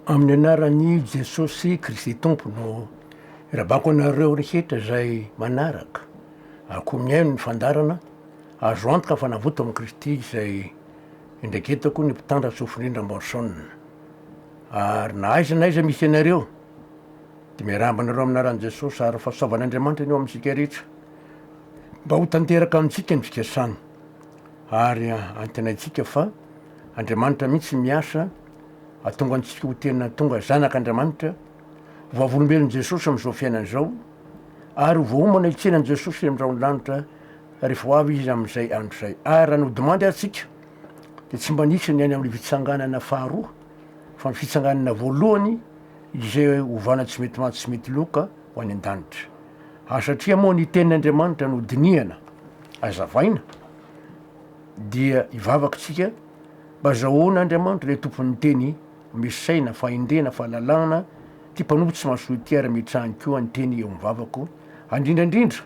Amin'ny anaran'i Jesosy Kristy Tompo no irabako anareo rehetra izay manaraka, ary koa mihaino ny fandaharana, azo antoka fa navoto amin'i Kristy izay indraiketako ny mpitandra sofin'indra Morrison. Ary na aiza na aiza misy ianareo dia miarahaba anareo amin'ny anaran'i Jesosy ary fahasoavan'Andriamanitra ny eo amintsika rehetra mba ho tanteraka amintsika ny fikasany ary antenaintsika fa Andriamanitra mihitsy miasa Hahatonga antsika ho tena tonga zanak' Andriamanitra, vavolombelon'i Jesosy amin'izao fiainana izao, ary ho voaomana hitsenan'i Jesosy eny amin'ny rahon'ny lanitra rehefa ho avy Izy amin'izay andro izay. Ary raha ny hodimandy ary tsika dia tsy mba nisy ny any amin'ny fitsanganana faharoa, fa ny fitsanganana voalohany izay ovana tsy mety maty tsy mety loka ho any an-danitra. Ary satria moa ny tenin' Andriamanitra no dinihana, azavaina, dia hivavaka isika, Mba zahoan' Andriamanitra ilay Tompon' ny Teny misy saina, fahendrena, fahalalahana, ity mpanompo tsy mahasoa ity ary ametrahany koa ny Teny eo amin' ny vavako, handrindra indrindra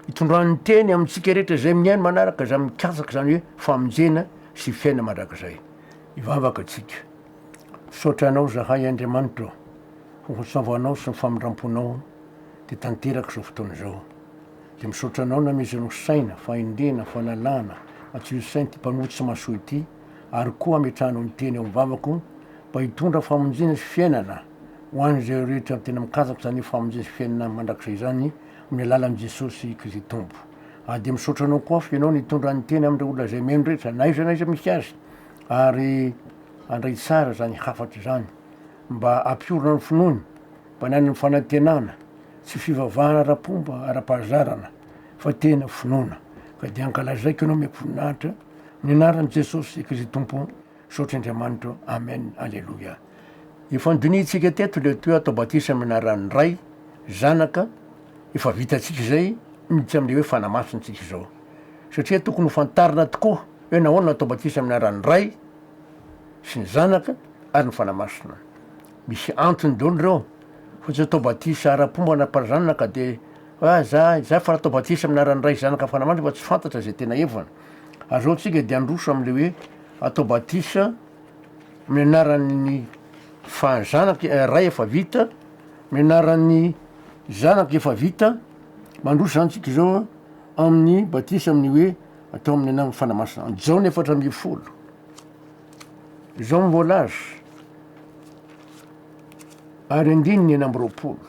itondrany ny Teny amintsika rehetra izay mihaino manaraka izany mikatsaka izany hoe famonjena sy fiainana mandrakizay. Hivavaka isika. Misaotra Anao zahay Andriamanitra ô, ho Antsovanao sy ny famindramponao dia tanteraka izao fotoana izao. Dia misaotra anao Nameza Rosaina fa endena fa lalàna fa tsy ho sainty mpamoa tsy mahasoa ity ary koa ametrahanao ny teny ao amin'ny vavako mba hitondra famonjena sy fiainana ho an'izay rehetra tena mikatsaka izany famonjena sy fiainana mandrakizay izany amin'ny alalan'i Jesosy Kristy Tompo ary dia misaotra anao koa fa ianao nitondra ny teny amin'ireo olona izay mihaino rehetra na aiza na aiza misy azy ary handray tsara izany hafatra izany mba hampiorina ny finoany Bananin'ny fanantenana, tsy fivavahana ara-pomba, ara-pahazarana, fa tena finoana. Ka dia ankalazaiko Ianao mihaiko voninahitra, amin'ny anaran'i Jesosy Kristy Tompo, misaotra Andriamanitra. Amen. Aleloia. Efa nodinihintsika teto ilay toe atao batisa amin'ny anaran'ny Ray, Zanaka, efa vitantsika izay, miditra amin'ilay hoe fanamasin'ny tsika izao. Satria tokony ho fantarina tokoa hoe nahoana natao batisa amin'ny anaran'ny Ray sy ny Zanaka ary ny Fanahy Masina. Misy antony dolo reo fa tsy atao batisa ara pomba na par zanaka de fa za za fara atao batisa aminy arany ray zanaka fanamanitra fa tsy fantatra zay tena evana ary zao tsika de androso amle oe atao batisa aminy anarany fa zanaka eh ray efa vita aminy anarany zanaka efa vita mandroso zany tsika zao a aminy batisa aminy oe atao aminy anarany fanahy masina jaona efatra ambifolo. Jean Mbolas, ary andininy enina amby roapolo.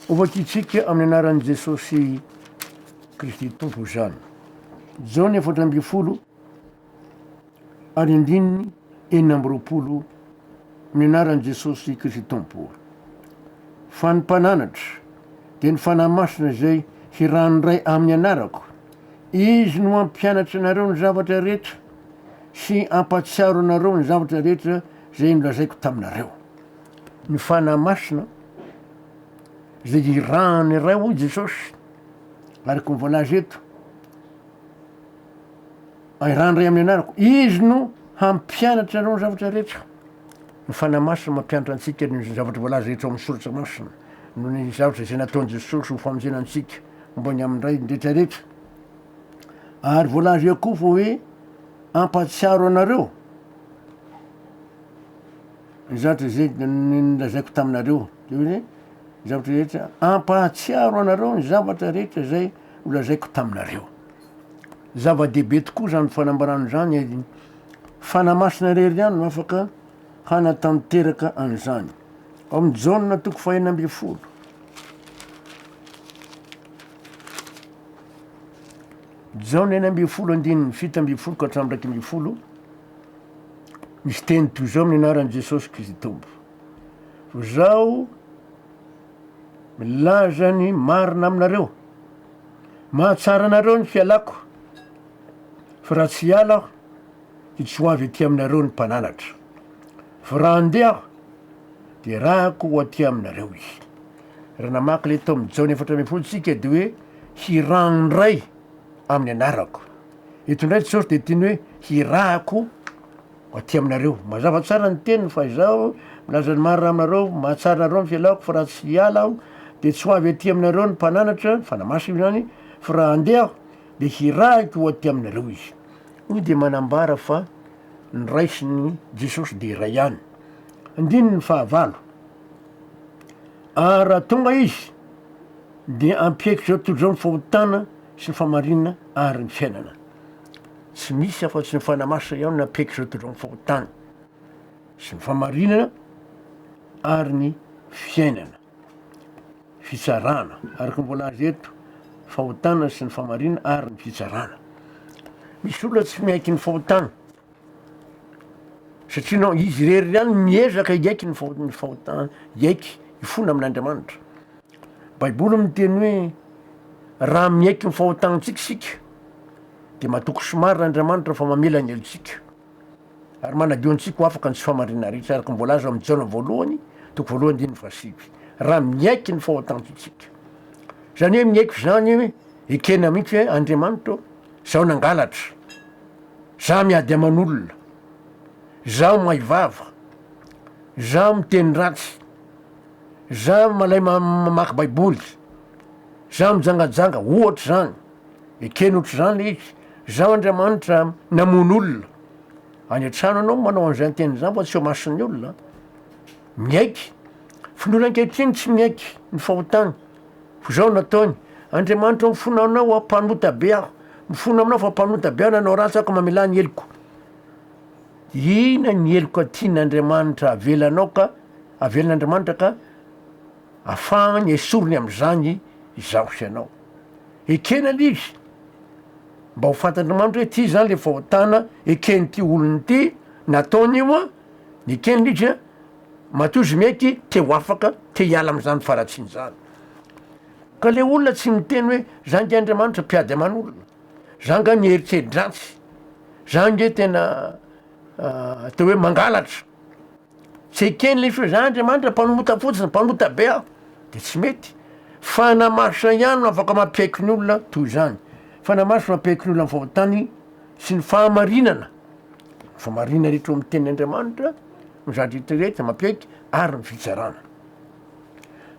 Hovakitsika amin'ny anaran'i Jesosy Kristy Tompo izany. Jaona efatra ambin'ny folo ary andininy enina amby roapolo amin'ny anaran'i Jesosy Kristy Tompo. Fa ny mpananatra dia ny Fanahy Masina izay hiranondray amin'ny anarako. Izy no hampianatra anareo ny zavatra rehetra sy hampahatsiaro anareo ny zavatra rehetra izay nolazaiko taminareo. Ny Fanahy Masina izay irahan'ny Ray, hoy Jesosy, araka ny voalaza eto, irahan'ny Ray amin'ny anarako. Izy no hampianatra anareo ny zavatra rehetra. Ny Fanahy Masina mampianatra antsika ny zavatra voalaza eto amin'ny Soratra Masina, noho ny zavatra izay nataon'i Jesosy ho famonjena antsika. Ambony amin-dray ny rehetra rehetra. Ary voalaza eo koa fa hoe hampahatsiaro anareo ny zavatra izay nolazaiko taminareo. Dia hoe ny zavatra rehetra hampahatsiaro anareo ny zavatra rehetra izay nolazaiko taminareo. Zava-dehibe tokoa izany fanambarana izany. Fanahy masina irery ihany no afaka hanatanteraka an'izany. Ao amin'ny Jaona toko fahenina ambin'ny folo, Jaona enina ambin'ny folo andininy fito ambin'ny folo ka hatramin'ny iraika ambin'ny folo, misy teny toy izao amin'ny anaran'i Jesosy Kristy Tompo. Fa zaho milaza ny marina aminareo, mahatsara anareo ny fialako, fa raha tsy hiala aho, dia tsy ho avy aty aminareo ny mpananatra. Vao raha handeha aho, dia rahako ho aty aminareo izy. Raha namaky ilay tao amin'ny Jaona efatra ambin'ny folo isika dia hoe hirahan'ny Ray amin'ny anarako. Eto indray Jesosy dia tiany hoe hirahako ho aty aminareo. Mazava tsara ny teniny fa izaho milaza ny marina aminareo, mahatsara anareo ny fialako fa raha tsy hiala aho dia tsy ho avy aty aminareo ny Mpananatra, Fanahy Masina izany, fa raha handeha aho dia hirahiko ho aty aminareo izy. Hoy dia manambara fa. noraisin'i Jesosy dia iray ihany. Andininy fahavalo, Ary raha tonga Izy, dia hampiaiky izao tontolo izao ny fahotana sy ny fahamarinana ary ny fiainana. Tsy misy afa-tsy ny Fanahy Masina ihany no hampiaiky izao tontolo izao ny fahotana sy ny fahamarinana ary ny fiainana. fitsarana, araka ny voalaza eto, fahotana sy ny famarina ary ny fitsarana. Misy olona tsy miaiky ny fahotana satria nao izy irery ihany miezaka hiaiky ny fahotany fahotany hiaiky hifona amin'Andriamanitra. Baiboly miteny hoe raha miaiky ny fahotantsika isika dia matoky somary Andriamanitra fa mamela ny helotsika. Ary manadio antsika ho afaka ny tsy fahamariana rehetra, araka ny voalaza ao amin'ny Jaona voalohany, toko voalohany andininy fahasivy, raha miaiky ny fahotanto isika. Izany hoe miaiky izany hoe ekena mihitsy hoe Andriamanitra ô, izaho nangalatra, izaho miady aman'olona, izaho may vava, izaho miteny ratsy, izaho malay mamaky baiboly, izaho mijangajanga, ohatra izany. Ekeny ohatr'izany le izy, Izaho Andriamanitra namono olona. Any an-trano ianao no manao an'izany teny izany fa tsy eo mason'ny olona. Miaiky. Fa ny olona ankehitriny tsy miaiky ny fahotany. Fa izao no ataony, Andriamanitra ô mifona aminao aho, mpanota be aho. Mifona aminao fa mpanota be aho, nanao ratsy aho ka mamelà ny heloko. Inona ny heloka tian'Andriamanitra avelanao ka, avelan'Andriamanitra ka, Afahany esoriny amin'izany izaho sy ianao. Ekeny anie izy. Mba ho fantatr'i Mandry hoe ity izany ilay fahotana eken'ity olona ity, nataony io an, nekeny ilay izy an, matoa izy mihaiky te ho afaka, te hiala amin'izany faharatsiana izany. Ka ilay olona tsy niteny hoe za nge Andriamanitra mpiady aman'olona, za nga niheritrerit-dratsy, za nge tena atao hoe mangalatra. Tsy eken' ilay feo zany Andriamanitra mpanota fotsiny, mpanota be aho de tsy mety. Fanahy Masina ihany no afaka mampiaiky ny olona toy izany. Fanahy Masina mampiaiky ny olona ny fahotany sy ny fahamarinana. Ny fahamarinana rehetra ao amin'ny tenin' Andriamanitra no zatra hita rehetra mampiaiky ary ny fitsarana.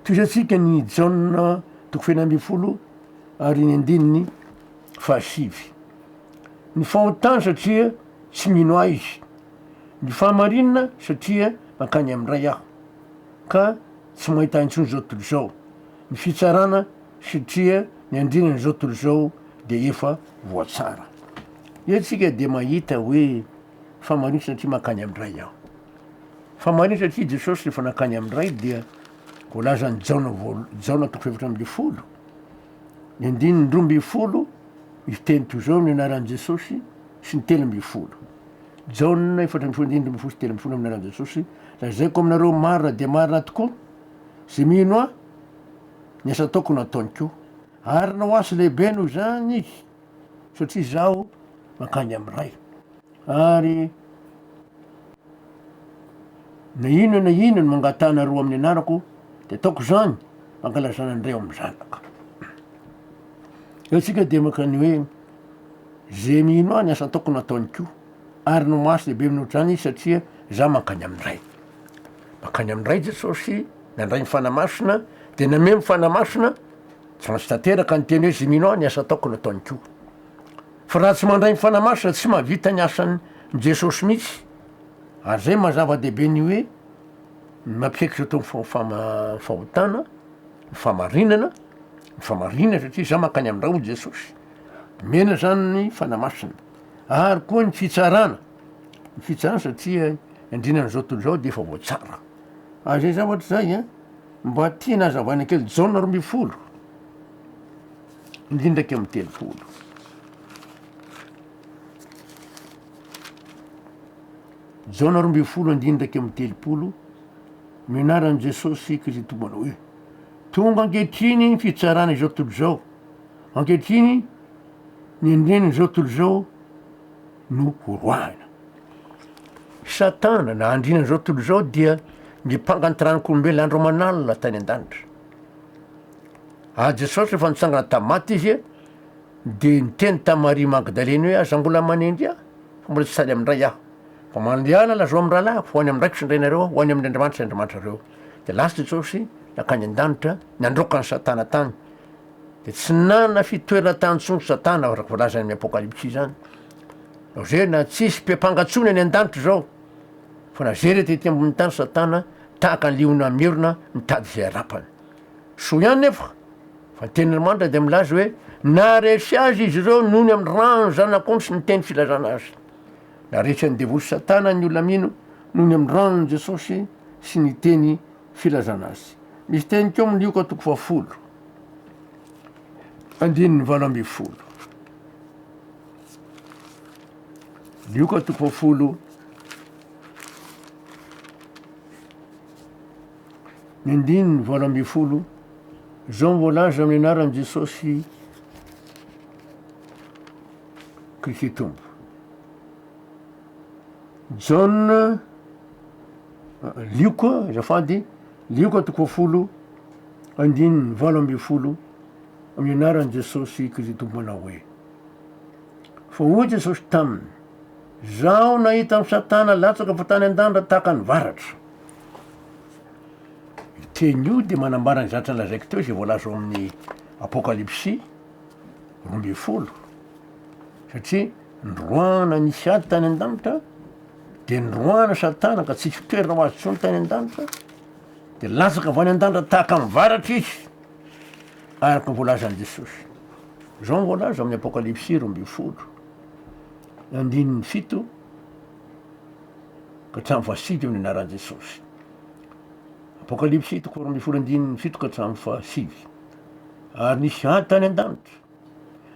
Tohizatsika ny Jaona toko fahefatra ambin'ny folo ary ny andininy fahasivy. Ny fahotany satria tsy mino ahy izy. Ny fahamarinina satria nankany amin'ny Ray aho ka tsy mahita intsony izao tontolo izao, ny fitsarana satria ny andrinany izao tontolo izao dia efa voatsara. Eo tsika dia mahita hoe fahamarinana satria mankany amin'ny Ray aho. Fahamarinana satria Jesosy rehefa nankany amin'ny Ray dia voalazan'i Jaona voalo- Jaona toko fahefatra ambin'ny folo, ny andininy roa ambin'ny folo, izy teny toy izao ny anaran'i Jesosy sy ny telo ambin'ny folo. Jaona efatra ambin'ny folo andininy ambin'ny folo sy telo ambin'ny folo Amin'ny anaran'i Jesosy, lazaiko aminareo marina dia marina tokoa, izay mino ahy, ny asa ataoko no hataony koa. Ary na ho asa lehibe noho izany izy, satria izaho mankany amin'ny Ray. Ary na inona na inona no mangatahanareo amin'ny anarako, dia ataoko izany, mba hankalazana ny Ray ao amin'ny Zanaka. Eo isika dia makany hoe. Ze mino ahy ny asa ataoko no ataony ko ary no mahasoa lehibe minoatra izany izy satria za mankany amin'ny Ray. Mankany amin'ny Ray Jesosy, nandray ny Fanahy Masina dia nameo ny Fanahy Masina, tsy maintsy tanteraka ny teny hoe ze mino ahy ny asa ataoko no ataony ko. Fa raha tsy mandray ny Fanahy Masina tsy mahavita ny asan'i Jesosy mihitsy. Ary zay maha zava-dehibe ny hoe ny mampiaiky izao tontolo fahotana, ny fahamarinana, ny fahamarinana satria za mankany amin'ny Ray hoy Jesosy. Omena izany ny Fanahy Masina. Ary koa ny fitsarana, ny fitsarana satria andriana an'izao tontolo izao dia efa voatsara. Ary izay zavatra izay a, mba tiana hazavaina kely, Jaona roa ambin'ny folo, andininy iraika amby telopolo. Jaona roa ambin'ny folo andininy iraika amby telopolo, no anaran'i Jesosy Kristy Tompony hoe, tonga ankehitriny ny fitsarana izao tontolo izao. Ankehitriny, ny andininy izao tontolo izao no horoahina. Satana, na andininy izao tontolo izao, dia nipanga nitaranak'olombelona andro aman'alina tany an-danitra. Ary Jesosy, rehefa nitsangana tamin'ny maty Izy, dia niteny tamin'i Maria Magdalene hoe, Aza mbola manenjy Ahy, fa mbola tsy sady amin-dray Aho. Fa mandehana, lazao amin'ny rahalahiko, ho any amin-draiko sy ny rainareo Aho, ho any amin'Andriamanitra sy Andriamanitrareo. Dia lasa Jesosy, nankany an-danitra, nandroaka an'i Satana tany. Dia tsy nanana fitoerana tany intsony Satana, araka ny voalazany amin'ny Apokalypsy izany. Laozena, tsisy be mpanga intsony any an-danitra izao, fa na zay rehetra ety ambony tany Satana tahaka ny liona mierona mitady izay harapany. Soa ihany nefa fa ny tenin' Andriamanitra dia milaza hoe naharesy azy izy ireo noho ny amin'ny rà ny Zanak'ondry sy ny teny filazana azy. Naharesy an'i Devoly sy Satana ny olona mino noho ny amin'ny ràn'i Jesosy sy ny teny filazana azy. Misy teny teo amin'ny Lioka toko fahafolo, andininy valo ambin'ny folo. Lioka toko fahafolo, ny andininy valo ambin'ny folo, izao voalaza amin'ny anaran'i Jesosy Kristy Tompo. Jaona Lioko a, azafady, lioko toko folo andininy valo ambin'ny folo amin'ny anaran'i Jesosy Kristy Tomponao hoe. Fa hoy Jesosy taminy, Zaho nahita an'i Satana latsaka avy tany an-danitra tahaka ny varatra. Io teny io dia manambara ny zatra lazaiko teo izay voalaza ao amin'ny Apokalypsy roa ambin'ny folo, satria noroahana nisy ady tany an-danitra, Dia noroahina sady tana ka tsy hisy toerana ho azy intsony tany an-danitra, dia latsaka avy any an-danitra tahaka ny varatra izy, araka ny voalazan'i Jesosy. Izao no voalaza amin'ny Apokalypsy roa ambin'ny folo, andininy fito ka hatramin'ny fahasivy amin'ny anaran'i Jesosy. Apokalypsy toko faharoa ambin'ny folo andininy fito ka hatramin'ny fahasivy. Ary nisy ady tany an-danitra.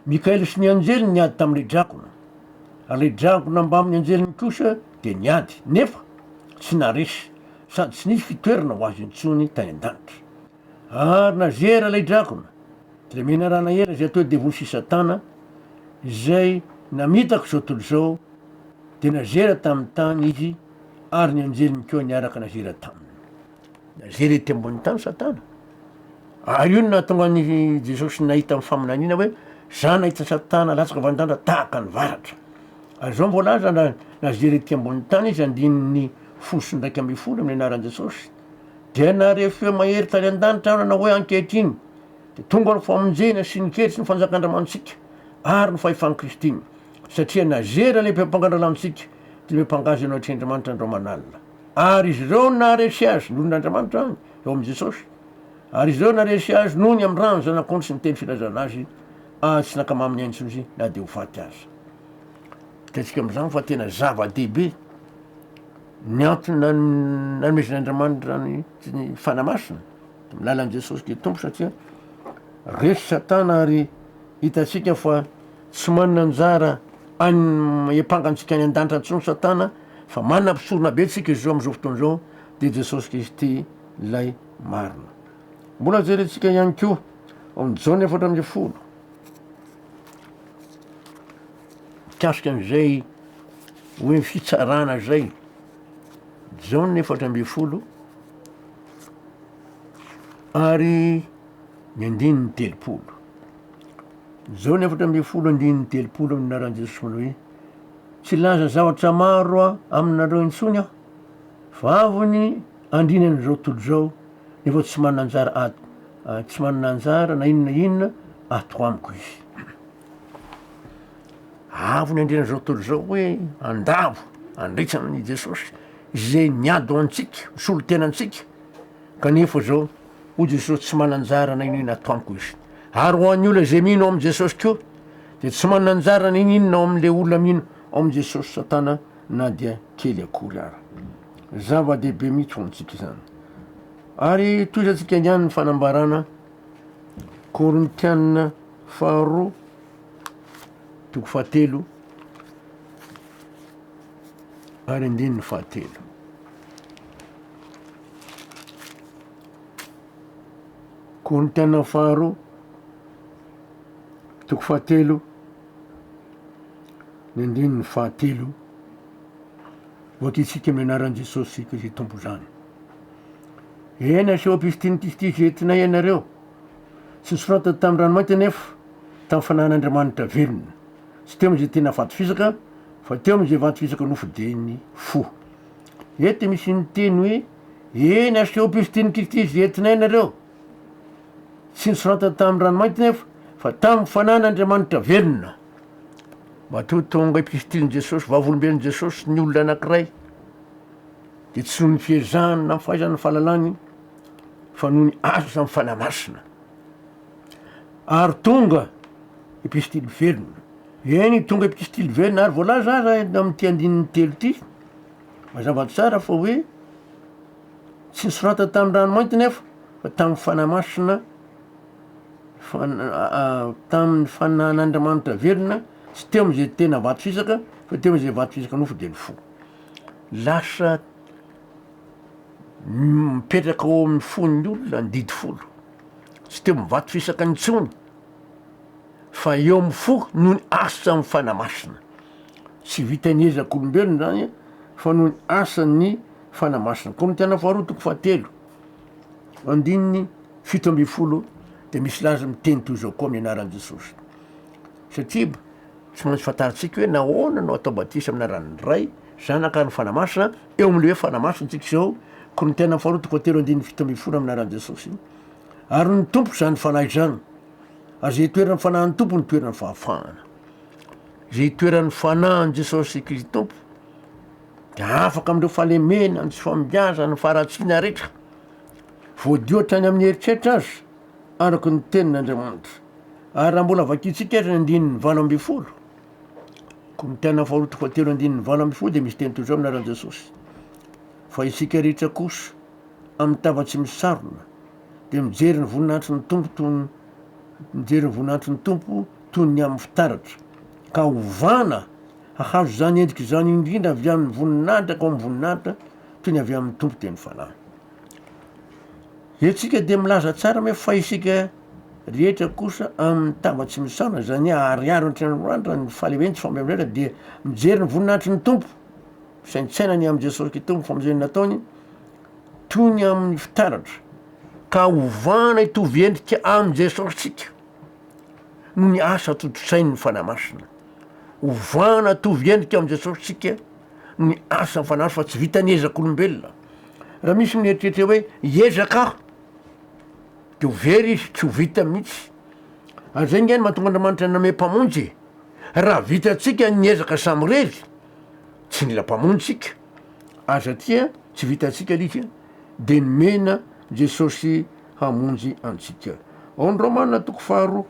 Mikaela sy ny anjely niady tamin'ilay dragona, ary ilay dragona mbamin'ny anjeliny kosa dia niady, nefa tsy naharesy, sady tsy nisy fitoerana ho azy intsony tany an-danitra. Ary nazera ilay dragona, ilay menarana ela izay atao devoly sy Satana, izay namitaka izao tontolo izao, dia nazera tamin'ny tany izy, ary ny anjeliny koa niaraka nazera taminy. Na zay rety ambony tany satana. Ary io no nahatonga an'i Jesosy nahita amin'ny faminaniana hoe za nahita satana latsaka vandràndra tahaka ny varatra. Ary zao ny voalaza na na zay rety ambony tany izy andininy folo sy ndraika ambin'ny folo amin'ny anaran'i Jesosy. Dia nahare feo mahery tany an-danitra aho nanao hoe ankehitriny dia tonga ny famonjena sy ny kery sy ny fanjakan-dRamanontsika ary ny fahefan'i Kristy. Satria na zay ra lehibe mpangan-dralàntsika dia lehibe mpangazy anao hatreAndriamanitra andro aman'alina. Ary izy ireo naharesy azy noho ny Andriamanitra any, eo amin'i Jesosy. Ary izy ireo naharesy azy noho ny amin'ny rà ny Zanak'ondry sy ny teny filazana azy, ary tsy nankama aminy intsony izy na dia ho faty aza. Hitantsika amin'izany fa tena zava-dehibe ny antony nanomezan'Andriamanitra ny Fanahy Masina amin'ny lalan'i Jesosy dia Tompo satria resy Satana ary hitantsika fa tsy manana anjara any empangantsika any an-danitra intsony Satana Fa manana mpisorona be tsika izao amin'izao fotoana izao dia Jesosy Kristy ilay marina. Mbola jerentsika ihany koa ao amin'ny Jaona efatra ambin'ny folo mikasika an'izay hoe fitsarana izay. Jaona efatra ambin'ny folo ary ny andininy telopolo. Jaona efatra ambin'ny folo andininy telopolo amin'ny anaran'i Jesosy manao hoe Tsy hilaza zavatra maro aminareo intsony aho, fa avy ny andriana an'izao tontolo izao nefa tsy manana anjara ato, tsy manana anjara na inona na inona ato amiko izy. Avy ny andriana an'izao tontolo izao hoe andavo handritra amin'i Jesosy izay niady ho antsika, nisolo tena antsika, kanefa izao hoy Jesosy tsy manana anjara na inona na inona ato amiko izy. Ary ho an'ny olona izay mino amin'i Jesosy koa, Dia tsy manana anjara na inona inona ao amin' ilay olona mino ao amin' i Jesosy Satana na dia kely akory ara. Zava-dehibe mihitsy ho antsika izany. Ary tohizantsika ihany ny fanambarana Korintiana faharoa toko fahatelo ary andininy fahatelo. Korintiana faharoa Toko fahatelo, ny andininy fahatelo, voakitsika amin'ny anaran'i Jesosy Kristy izay Tompo izany. Eny aseho am-pifitian'i Kristy izay entinay ianareo. Tsy nosoratana tamin'ny ranomainty anefa, tamin'ny fanahin'Andriamanitra velona. Tsy teo amin'izay tena vato fisaka, fa teo amin'izay vato fisaka nofidiny fo. Eto misy ny teny hoe, eny aseho am-pifitian'i Kristy izay entinay ianareo. Tsy nosoratany tamin'ny ranomainty nefa fa tamin'ny fanan'Andriamanitra velona. Matoa tonga epistilin'i Jesosy, vavolombelon'i Jesosy ny olona anankiray dia tsy noho ny fiezahany na ny fahaizany ny fahalalany fa noho ny asa ny fanahy masina. Ary tonga epistily velona. Eny tonga epistily velona ary voalaza aza amin'ity andininy telo ity mazava tsara fa hoe Tsy nosoratany tamin'ny ranomainty nefa fa tamin'ny Fanahy Masina, tamin'ny Fanahin'Andriamanitra velona, tsy teo amin'izay tena vato fisaka fa teo amin'izay vato fisaka nofo dia ny fo. Lasa mipetraka ao amin'ny fon'ny olona ny didy folo, tsy teo amin'ny vato fisaka intsony fa eo amin'ny fo noho ny asan'ny Fanahy Masina. Tsy vitan'ny ezak'olombelona izany fa noho ny asan'ny Fanahy Masina. Korintiana Faharoa toko fahatelo andininy fito ambin'ny folo dia misy laza miteny toy izao koa amin'ny anaran'i Jesosy. Satria tsy maintsy fantarintsika hoe nahoana no atao batisa amin'ny anaran'ny Ray, Zanaka ary ny Fanahy Masina, eo amin'ilay hoe Fanahy Masina isika izao, Korintiana Faharoa toko fahatelo andininy fito ambin'ny folo amin'ny anaran'i Jesosy. Ary ny Tompo izany Fanahy izany. Ary izay itoeran'ny Fanahin'ny Tompo no itoeran'ny fahafahana. Izay itoeran'ny Fanahin'i Jesosy Kristy Tompo Dia afaka amin'ireo fahalemena, ny tsy fahombiazana, ny faharatsiana rehetra, voadio hatrany amin'ny eritreritra aza, araka ny Tenin'Andriamanitra. Ary raha mbola vakintsika ary ny andininy valo ambin'ny folo, Korintiana faharoa toko fahatelo andininy valo ambin'ny folo, dia misy teny toy izao amin'ny anaran'i Jesosy, Fa isika rehetra kosa, amin'ny tava tsy misarona, dia mijery ny voninahitry ny Tompo toy ny mijery ny voninahitry ny Tompo toy ny amin'ny fitaratra, ka ovana Hahazo izany endrika izany indrindra avy amin'ny voninahitra ka ao amin'ny voninahitra toy ny avy amin'ny Tompo dia ny fanahy. Etsika dia milaza tsara hoe fa isika rehetra kosa amin'ny tava tsy misaona izany hoe ahariharo an-tranoranitra ny fahalehiben tsy fampiamrera dia mijery ny voninahitry ny Tompo saintsaina ny amin'i Jesosy Kitomy famonjeny nataony toy ny amin'ny fitaratra ka hovana hitovy endrika amin'i Jesosy tsika. noho ny asa tontosain'ny Fanahy Masina. Ovana hatovy endrika amin'i Jesosy isika noho ny asan'ny Fanahy Masina fa tsy vitan'ny ezak'olombelona. Raha misy ny mieritreritra hoe hiezaka aho dia ho very izy, tsy ho vita mihitsy. Ary izay nge no mahatonga Andriamanitra nanome mpamonjy e. Raha vitantsika ny ezaka samirery, tsy nila mpamonjy isika. Ary satria tsy vitantsika ilay izy dia nomena Jesosy hamonjy antsika. Ao amin'ny Romana toko faharoa.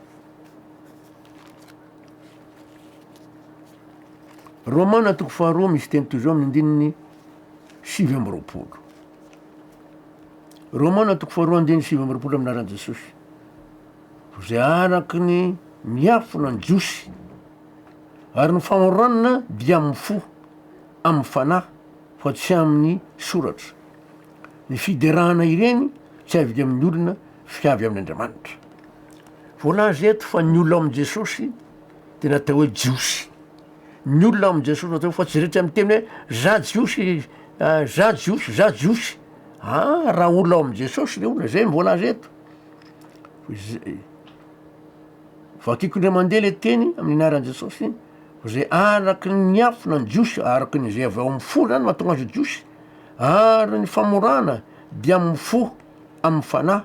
Romana toko faharoa misy teny toy izao amin'ny andininy sivy amby roapolo. Romana toko faharoa andininy sivy amby roapolo amin'ny anaran'i Jesosy. Izay araka ny miafina ny Jiosy ary ny famoronana dia amin'ny fo, amin'ny fanahy fa tsy amin'ny soratra. Ny fiderana ireny tsy avy amin'ny olona fa avy amin'Andriamanitra. Voalaza eto fa ny olona amin'i Jesosy dia natao hoe Jiosy. Ny olona amin'i Jesosy natao fa tsy rehetra miteny hoe za Jiosy, ah, za Jiosy, za Jiosy. Ah, raha olona ao amin'i Jesosy le olona, zay no voalaza eto. Izay- Vakiko indray mandeha le teny amin'ny anaran'i Jesosy, fa zay araky ny afo na ny Jiosy, araky ny zay avy ao amin'ny fo zany mahatonga azy ho Jiosy. Ary ny famorana dia amin'ny fo, amin'ny fanahy,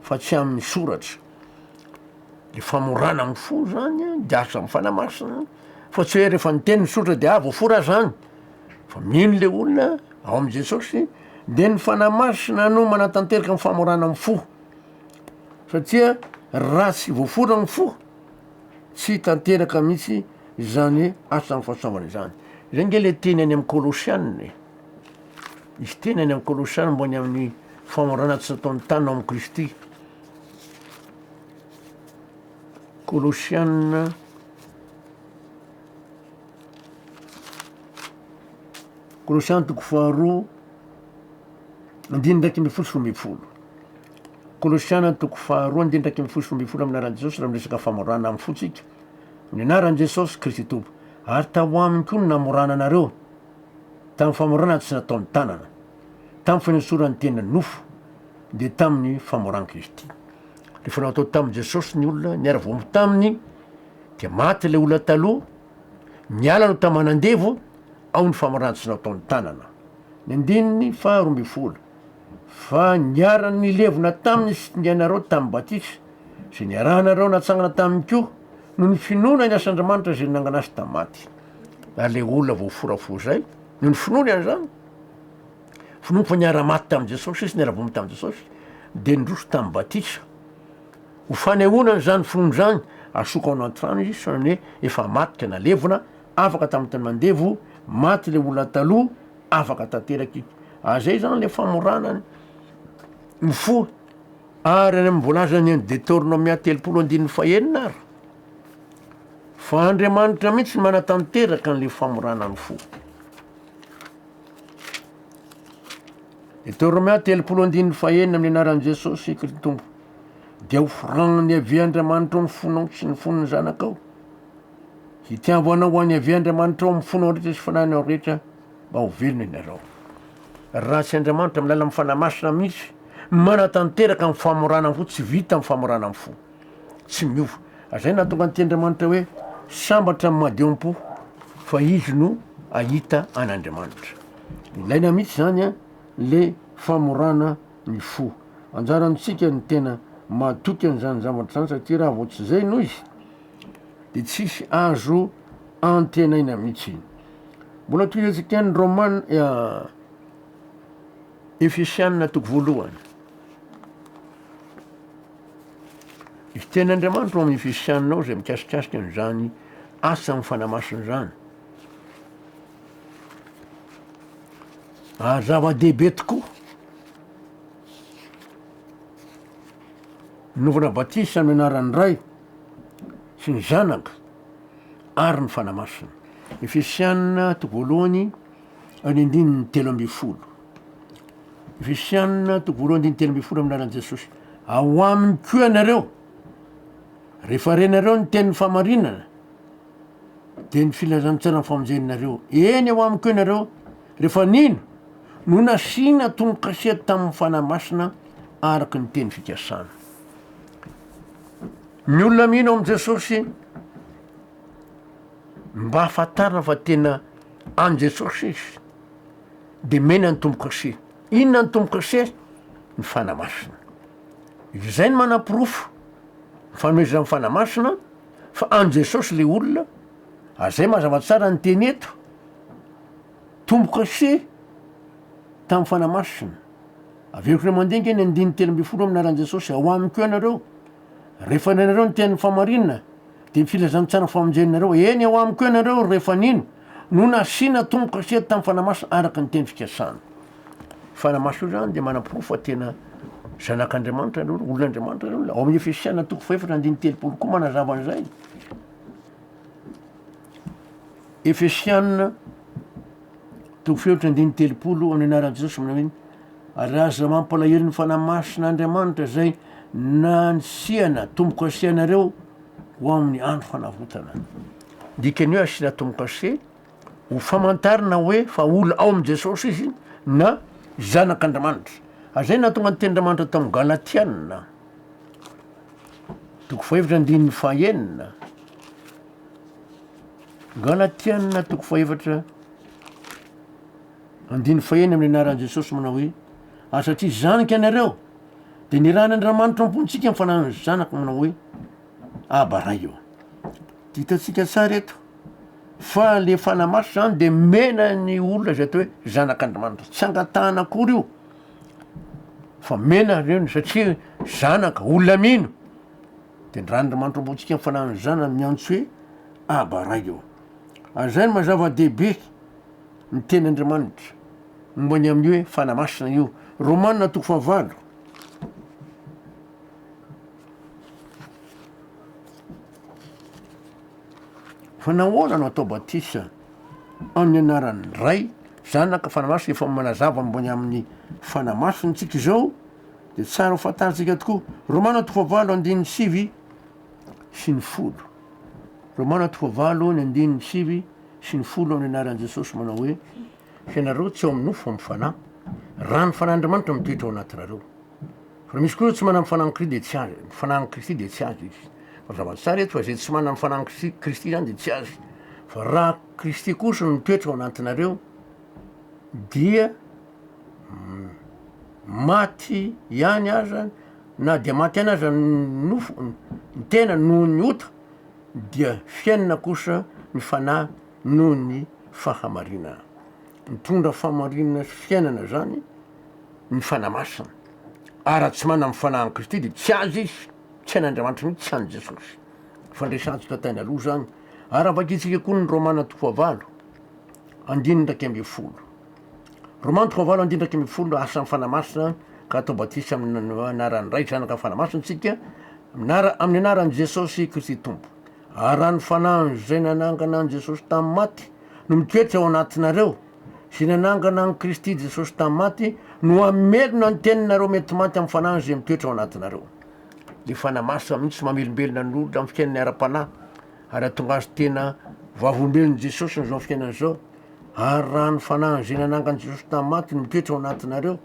fa tsy amin'ny soratra. Ny famorana amin'ny fo izany dia asa amin'ny Fanahy Masina, fa tsy hoe rehefa niteny ny soratra dia ah! voafora zany, fa mino le olona ao amin'i Jesosy de ny Fanahy Masina no manatanteraka ny famorana amin'ny fo, satria raha tsy voafora ny fo tsy hitanteraka mihitsy izany asan'ny fahasoavana izany, zay nge le teny any amin'ny Kolosiana e. Misy teny any amin'ny Kolosana momba ny amin'ny famorana tsy nataon'ny tany ao amin'i Kristy. Kolosiana Kolosiana toko faharoa andininy ndraiky ambin'ny folo sy roa ambin'ny folo. Kolosiana toko faharoa andininy ndraiky ambin'ny folo sy roa ambin'ny folo amin'ny anaran'i Jesosy raha miresaka famorana amin'ny fontsika. Ny anaran'i Jesosy Kristy Tompo ary tao aminy koa ny namorana anareo. tamin'ny famorana ny tsy nataon'ny tanana, tamin'ny fanesoran'ny tena ny nofo, dia tamin'ny famoran'i Kristy. Rehefa natao tamin'i Jesosy ny olona niara-voaomby taminy, dia maty ilay olona taloha, niala ny taman'andevo, ao ny famorana ny tsy nataon'ny tanana. Ny andininy faha roa ambin'ny folo, Fa niaran'ny levona taminy ny fitsingeanareo tamin'ny batisa, izay niarahanareo natsangana taminy koa, noho ny finoana ny asan-dRamanitra izay nanangana azy tamin'ny maty. ary ilay olona voaforafora izay noho ny finoany an'izany, finoany fa niara-maty tamin'i Jesosy izy, niara-bomby tamin'i Jesosy, dia nindroso tamin'ny batisa. Ho fanehoana an'izany finoany izany, asoko ao anaty rano izy, saingy hoe efa maty ka nalevina, afaka tamin'ny tany mandevo, maty ilay olona taloha, afaka tanteraka izy. Ary izay izany ilay famorana ny mifoha. Ary any amin'ny voalazan'ny any Detornomia telopolo andininy fahenina ary, Fa Andriamanitra mihitsy no manatanteraka an'ilay famorana ny fo. Ny teo Romea telopolo andininy fahenina amin'ny anaran'i Jesosy Kritompo dia ho foranan'i Yaveh Andriamanitra ao amin'ny fonao sy ny fon'ny zanakao. Hitiavanao ho an'i Yaveh Andriamanitra ao amin'ny fonao rehetra sy fanahinao rehetra mba ho velona ianareo. Raha tsy Andriamanitra amin'ny alalan'ny fanahy masina mihitsy manatanteraka ny famorana ny fo, tsy vita ny famorana ny fo. tsy miova. Zay nahatonga an'ity Andriamanitra hoe sambatra amin'ny madio am-po fa izy no ahita an'Andriamanitra. Ilaina mihitsy zany a le famorana ny fo. Anjarantsika ny tena mahatoky an'zany zavatra zany satria raha vao tsy zay no izy de tsisy azo antenaina mihitsy. Mbola tohizantsika ny Romana Efesiana toko voalohany. Ny tenin'Andriamanitra ao amin'ny Efesiana ao izay mikasikasika an'izany asa amin'ny fanahy masina izany. Ary zava-dehibe tokoa. Novana batisa amin'ny anaran'ny Ray sy ny Zanaka ary ny fanahy masina. Efesiana toko voalohany Ny andininy telo ambin'ny folo. Efesiana toko voalohany andininy telo ambin'ny folo amin'ny anaran'i Jesosy. Ao aminy koa ianareo, rehefa renareo ny tenin'ny fahamarinana, dia ny filazantsaran'ny famonjenareo. Eny, ao aminy koa ianareo, rehefa nino, no nasiana tomokasea tamin'ny Fanahy Masina araka ny teny fikasana. Ny olona mino amin'i Jesosy, Mba ahafantarana fa tena an'i Jesosy izy dia omena ny tombo-kase. Inona ny tombo-kase? Ny Fanahy Masina. Izay no manaporofo ny fanomezan'ny Fanahy Masina fa an'i Jesosy ilay olona, ary izay mazava tsara ny teny eto, tombo-kase tamin'ny Fanahy Masina. Averiko indray mandeha ange ny andininy telo ambin'ny folo amin'ny anaran'i Jesosy, ao amiko eo ianareo, rehefa nihaino anareo ny tenin'ny fahamarinana, Dia ny filazantsara famonjenareo, eny, ao amiko eo ianareo rehefa nino, no nasiana tombokasety tamin'ny Fanahy Masina araka ny teny fikasana. Fanahy Masina io izany dia manaporofo fa tena zanak'Andriamanitra ianareo, olon'Andriamanitra ianareo. Ao amin'ny Efesiana toko fahefatra andininy telopolo koa manazava an'izay. Efesiana toko fahefatra andininy telopolo amin'ny anaran'i Jesosy manao hoe Ary aza mampalahelo ny Fanahy Masina Andriamanitra izay nansiana tombo-kase anareo ho amin'ny andro fanavotana. Dikan'ny hoe asiana tombo-kase, ho famantarana hoe fa olona ao amin'i Jesosy izy na zanak'Andriamanitra. Ary izay nahatonga ny tenin-dRamanitra tao amin'ny Galatiana, toko fahefatra andininy fahenina, Galatiana toko fahefatra Andininy faheny amin'ny anaran'i Jesosy manao hoe, Ary satria zanak' ianareo, dia nirahin' Andriamanitra am-pontsika ny fananany Zanaka manao hoe, Aba Ray ô. Dia hitantsika tsara eto fa le Fanahy Masina zany dia mena ny olona izay atao hoe zanak' Andriamanitra. Tsy angatahana akory io fa mena ry reny satria zanaka, olona mino. De ny ran'Andriamanitra am-pontsika ny fananany Zanany miantso hoe, Aba Ray ô. Ary zay no maha zava-dehibe. Ny Tenin'Andriamanitra, momba ny amin'ny hoe fanahy masina io. Romana toko fahavalo. Fa nahoana no atao batisa amin'ny anaran'ny Ray, Zanaka, Fanahy Masina efa manazava momba ny amin'ny fanahy masina antsika izao dia tsara ho fantarintsika tokoa. Romana toko fahavalo andininy sivy sy ny folo. Romana toko fahavalo ny andininy sivy sy ny folo amin'ny anaran'i Jesosy manao hoe, hianareo tsy ao amin'ny nofo fa amin'ny Fanahy, raha ny Fanahin'Andriamanitra mitoetra ao anatinareo. Fa raha misy koa ireo tsy manana ny Fanahin'i Kristy dia tsy azy, ny Fanahin'i Kristy dia tsy azy izy. Fa zava tsara eto fa izay tsy manana ny Fanahin'i Kristy, Kristy izany dia tsy azy. Fa raha Kristy kosa no mitoetra ao anatinareo dia maty ihany aza na dia maty ihany aza ny nofo, ny tena noho ny ota. dia fiainana kosa ny fanahy noho ny fahamarinana. Mitondra fahamarinana sy fiainana izany ny Fanahy Masina, ary raha tsy manana ny Fanahin'i Kristy dia tsy azy izy, tsy an'Andriamanitra mihitsy, tsy an'i Jesosy. Fandraisantsika tany aloha izany, ary havakintsika koa ny Romana toko fahavalo, andininy iraika ambin'ny folo. Romantiko valo andindraky ambin'ny folo Asan'ny Fanahy Masina ka atao batisa amin'ny anaran'ny Ray, Zanaka ary Fanahy Masina isika, mianara amin'ny anaran'i Jesosy Kristy Tompo. Ary raha ny Fanahiny izay nanangana an'i Jesosy tamin'ny maty no mitoetra ao anatinareo, izay nanangana an'i Kristy Jesosy tamin'ny maty no hamelona ny teninareo mety maty amin'ny Fanahiny izay mitoetra ao anatinareo. Ny Fanahy Masina mihitsy no mamelombelona ny olona amin'ny fiainany ara-panahy ary hahatonga azy tena Vavolombelon'i Jesosy amin'izao fiainana izao. Ary raha ny fanahin' izay nanangana Jesosy tamin'ny maty no mitoetra ao anatinareo,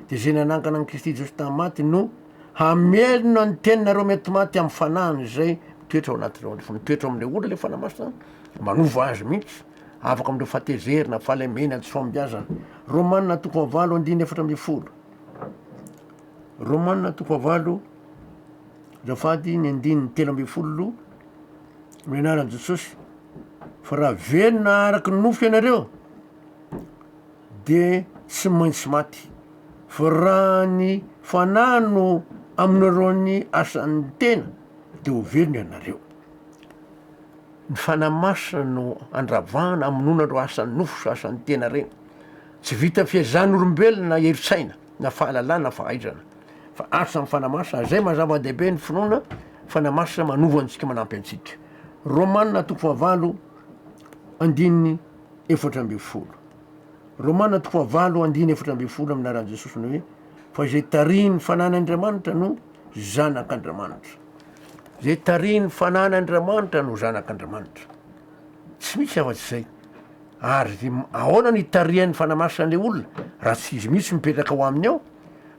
dia izay nanangana an'i Kristy Jesosy tamin'ny maty no hamelona ny teninareo mety maty amin'ny fanahiny izay mitoetra ao anatinareo ao. Rehefa mitoetra ao amin'ilay olona ilay Fanahy Masina, manova azy mihitsy, afaka amin'ireo fahatezerana, fahalemena, tsy fahombiazana. Romana toko fahavalo andininy efatra ambin'ny folo. Romana toko fahavalo azafady ny andininy telo ambin'ny folo. amin'ny anaran'i Jesosy fa raha velona araka ny nofo ianareo de tsy maintsy maty fa raha ny fanahy no aminareo ny asan'ny tena de ho velona ianareo ny fanahy masina no andravahana amonoana ireo asan'ny nofo sy asan'ny tena reny tsy vita fehezan'olombelona herin-tsaina na fahalalana fahaizana Fa asa mifanamasina, izay maha zava-dehibe ny finoana fanamasina manova antsika manampy antsika. Romana toko fahavalo andininy efatra ambin'ny folo. Romana toko fahavalo andininy efatra ambin'ny folo amin'ny laran'i Jesosy ny hoe fa izay tarihin'ny fananan'Andriamanitra no zanak'Andriamanitra. Izay tarihin'ny fananan'Andriamanitra no zanak'Andriamanitra. Tsy misy afa-tsy izay. Ary ahoana ny hitarihany fanamasina ilay olona raha tsy izy mihitsy mipetraka ao aminy ao?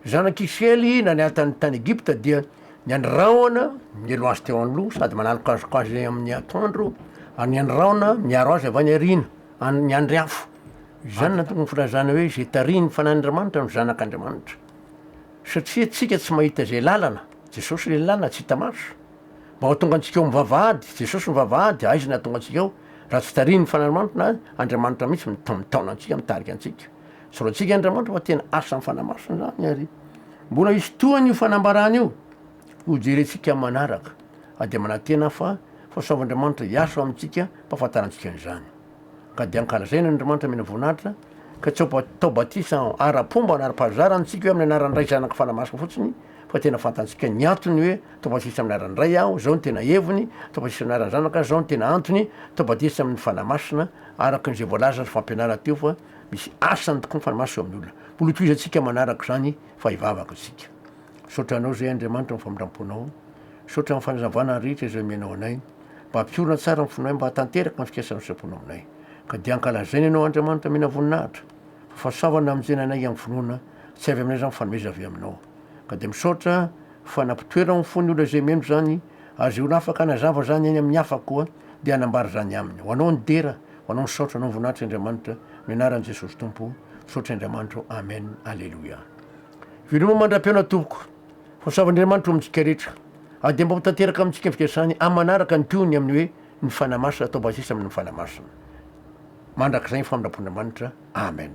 Zanak'i Isiraely nanatany tany Egypta dia ny andrahona mielo azy teo anoloha sady manalokaloka azy amin'ny atoandro ary ny andrahona miaro azy avy any aoriana amin'ny andry afo. Izany no anton'ny filazana hoe izay tarihin'ny fanahin'Andriamanitra no zanak'Andriamanitra. Satria antsika tsy mahita izay lalana, Jesosy ilay lalana tsy hita maso. Mba ho tonga antsika ao amin'ny vavahady, Jesosy no vavahady, aiza ny hahatonga antsika ao, raha tsy tarihin'ny Fanahin'ny Manitra, Andriamanitra mihitsy no mitaona antsika, mitarika antsika. Tsorantsika Andriamanitra fa tena asan'ny Fanahy Masina izany ary mbola hisy tohany io fanambarana io, ho jerentsika amin'ny manaraka. Ary dia manantena aho fa fahasoavan'Andriamanitra hiasa ao amintsika, ampahafantarantsika an'izany. ka dia ankalazaina an' Andriamanitra mena voninahitra, ka tsy ao tao batisa ara-pomba na ara-pahazara antsika hoe amin'ny anaran'ny Ray Zanaka Fanahy Masina fotsiny, fa tena fantantsika ny antony hoe tao batisa amin'ny anaran'ny Ray aho, izao no tena heviny, tao batisa amin'ny anaran'ny Zanaka, izao no tena antony, tao batisa amin'ny Fanahy Masina, araka ny izay voalaza sy fampianarana teo fa misy asany tokoa ny Fanahy Masina eo amin'ny olona. Mbola hotohizantsika manaraka izany fa hivavaka isika. Misaotra Anao izay Andriamanitra amin'ny famindram-ponao. Misaotra amin'ny fanazavana rehetra izay omenao anay. Mba ampiorina tsara ny fonay mba hahatanteraka ny fikasana sitrapony aminay. Ka dia ankalazaina Ianao, Andriamanitra mena voninahitra, fa fahasoavana na mijanona anay amin'ny finoana, tsy avy aminay izany fa nomeza avy Aminao. Ka dia misaotra fa nampitoerao ny fon'ny olona izay mino izany, ary izay olona afaka hanazava izany any amin'ny hafa koa, dia hanambara izany aminy. Ho Anao ny dera, ho Anao ny saotra, Anao ny voninahitra Andriamanitra, amin'ny anaran'i Jesosy Tompo, misaotra Andriamanitra ô, Amen, Aleloia. Veloma mandra-pihaona tompoko. Ho savan'Andriamanitra ho amintsika rehetra. Ary dia mba ho tanteraka amintsika ny fikasany amin'ny manaraka ny tohiny amin'ny hoe ny Fanahy Masina atao basisa amin'ny Fanahy Masina. Mandrakizay ny famindram-pon'Andriamanitra. Amen.